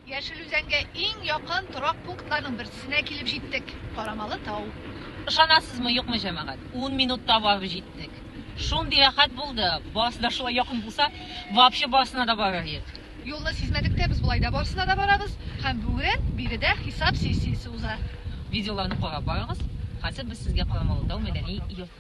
Яшел Үзәнгә иң якын торак пунктларның берсесенә килеп җиттек, карамалы тау. Ышанасызмы, юкмы, җәмәгать, ун минутта барып җиттек. Шундый рәхәт булды, барысы да шулай якын булса, вообще барысына да барыр идек. Юлны сизмәдек тә, без болай да барысына да барабыз. Һәм бүген биредә хисап сессиясе уза. Видеоларны карап барыгыз, хәзер без сезгә Карамалы тау мәдәни йортын.